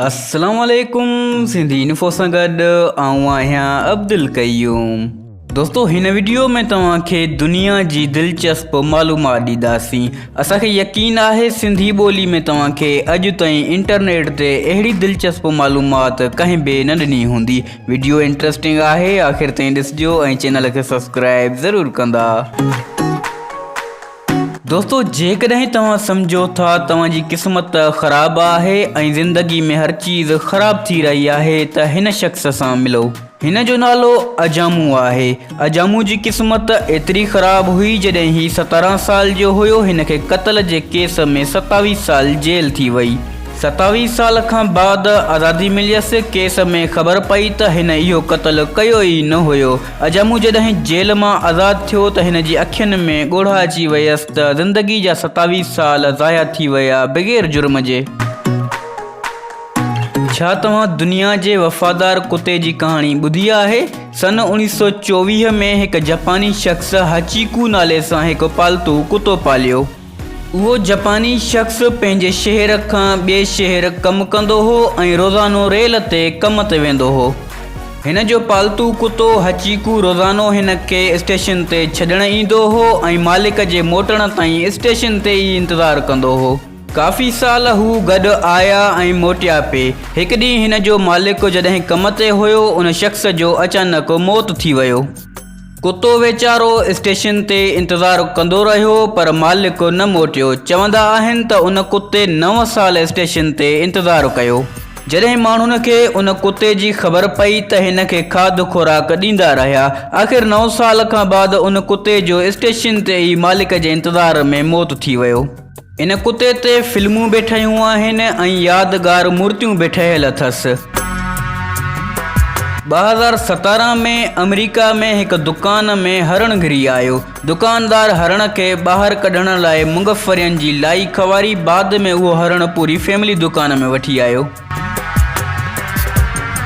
السلام عليڪم سنڌي انفو سان گڏ آئون آهيان عبدالقيوم دوستو هن ويڊيو ۾ توهان کي دنيا جي دلچسپ معلومات ڏينداسين اسان کي يقين آهي سنڌي ٻولي ۾ توهان کي اڄ تائين انٽرنيٽ تي اهڙي دلچسپ معلومات ڪنهن به نه ڏني هوندي ويڊيو انٽرسٽنگ آهي آخر تائين ڏسجو ۽ چينل کي سبسڪرائب ضرور ڪندا دوستو جيڪڏهن توهان سمجهو ٿا توهان جي قسمت خراب آهي ۽ زندگي ۾ هر چيز خراب ٿي رهي آهي ته هن شخص سان ملو هن جو نالو اجامو آهي اجامو جي قسمت ايتري خراب هئي جڏهن هي ستارهن سال جو هيو هن کي قتل جي ڪيس ۾ ستاويهه سال جيل ٿي وئي ستاويهه سال کان بعد آزادي مليس ڪيس ۾ خبر پئي ته هن اهو قتل ڪيو ئي نه هيو اجامو جڏهن جيل مان آزاد ٿيو ته هن جي اکين ۾ ڳوڙها اچي ويس ته زندگي جا ستاويهه سال ضايع ٿي ويا بغير جرم جي. ڇا توهان دنيا جي وفادار ڪتي جي ڪهاڻي ٻڌي آهي؟ سن اوڻيهه سؤ چوويهه ۾ هڪ جپاني شخص هاچيڪو نالي سان هڪ پالتو ڪتو پاليو. اهو جپاني شخص پنهنجي شهر کان ٻئي شهر ڪم ڪندو هو ۽ روزانو ريل تي ڪم تي ويندو هو. هن جو پالتو ڪتو هچيڪو روزانو هن کي اسٽيشن تي ڇڏڻ ايندو هو ۽ مالڪ جي موٽڻ تائين اسٽيشن تي ئي انتظار ڪندو هو. ڪافي سال هو گڏ آيا ۽ موٽيا پي. هڪ ڏينهن هن جو مالڪ جڏهن ڪم تي هيو، ان شخص جو اچانڪ موت ٿي ويو. ڪتو ويچارو اسٽيشن تي انتظار ڪندو رهيو پر مالڪ نه موٽيو. چوندا آهن ته ان ڪتي نو سال اسٽيشن تي انتظار ڪيو. جڏهن ماڻهن کي ان ڪتي جي خبر پئي ته هن کي کاڌ خوراڪ ڏيندا رهيا. آخر نو سال کان بعد ان ڪتي جو اسٽيشن تي ئي مالڪ جي انتظار ۾ موت ٿي ويو. ان ڪتي تي فلمون به ٺهيون آهن ۽ يادگار مورتيون به ٺهيل اٿس. ٻه هزار ستارهن ۾ آمريڪا ۾ هڪ دڪان ۾ هرڻ گهري آيو. دڪاندار هرڻ کي ٻاهر ڪڍڻ لاء مونگ ڦرين جي لائي کواري بعد ۾ اهو هرڻ پوري فيملي دڪان ۾ وٺي آيو.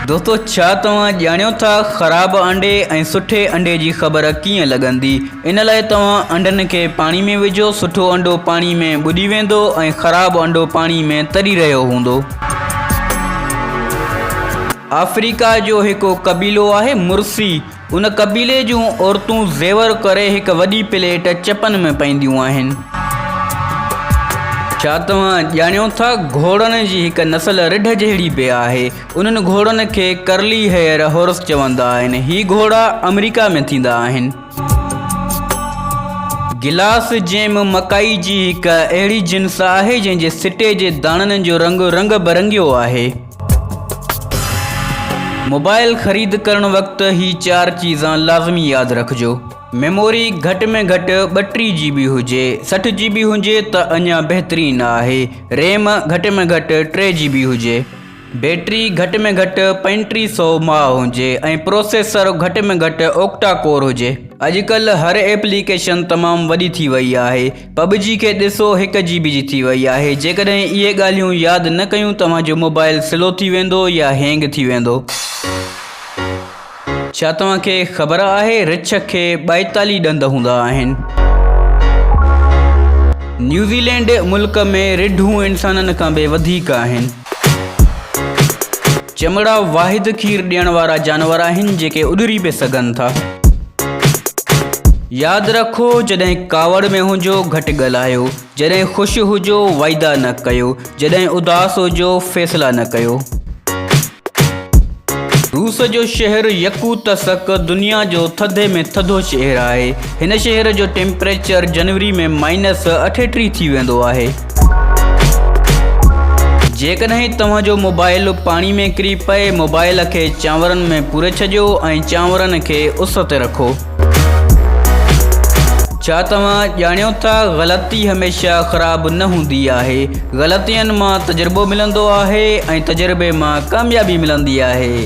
دوستو ڇا توهان ڄاڻيو ٿا خراب انڊي ۽ سٺي انڊي جي خبر ڪيئن لڳندي ان لاء توهان انڊن کي پاڻي ۾ وجهو سٺو انڊو پاڻي ۾ ٻڏي ويندو ۽ خراب انڊو پاڻي ۾ تري رهيو هوندو. آفريڪا جو هڪ قبيلو آهي مرسي ان قبيلي جون عورتون زيور ڪري هڪ وڏي پليٽ چپن ۾ پائينديون آهن. ڇا توهان ڄاڻيو ٿا گهوڙن جي هڪ نسل رڍ جهڙي به آهي. انهن گهوڙن کي ڪرلي هيئر هورس چوندا آهن. هي گهوڙا آمريڪا ۾ ٿيندا آهن. گلاس جيم مڪائي جي هڪ اهڙي جنس آهي جنهن جي سٽي جي داڻن جو رنگ رنگ برنگيو آهي. موبائل خريد ڪرڻ وقت هي چار چيزان لازمي ياد رکجو ميموري گهٽ ۾ گهٽ 32 جي بي هجي 60 جي بي هجي ته اڃا بهترين آهي ريم گهٽ ۾ گهٽ 3 جي بي هجي بيٽري گهٽ ۾ گهٽ 3500 ماء هجي ۽ پروسيسر گهٽ ۾ گهٽ اوڪٽا ڪور هجي اڄ ڪلهه هر ايپليڪيشن تمام وڏي ٿي وئي آهي پب جي کي ڏسو هڪ جي بي جي ٿي وئي آهي جيڪڏهن اهي ڳالهيون ياد نه ڪيون توهان جو موبائل سلو ٿي ويندو يا هينگ ٿي ويندو. ڇا توهان کي خبر آهي رڇ کي ٻائيتاليهه ڏند هوندا آهن. نيوزيلينڊ ملڪ ۾ رڍون انسانن کان به وڌيڪ آهن. چمڙا واحد کير ڏيڻ وارا جانور آهن جيڪي اڏري به سگهن ٿا ياد رکو جڏهن ڪاوڙ ۾ هجو گهٽ ڳالهايو جڏهن خوش هجو وعدا نه ڪيو جڏهن اداس هجو فيصلا نه ڪيو. روس جو شهر يڪوتسڪ دنيا جو ٿڌي ۾ ٿڌو شهر آهي هن شهر جو ٽيمپريچر جنوري ۾ مائنس 38 ٿي ويندو آهي جيڪڏهن توهان جو موبائل پاڻي ۾ ڪري پئي موبائل کي چانورن ۾ پوري ڇڏيو ۽ چانورن کي اس تي رکو. ڇا توهان ڄاڻيو ٿا غلطي هميشه خراب نه هوندي آهي غلطين مان تجربو ملندو آهي ۽ تجربي مان ڪاميابي ملندي آهي.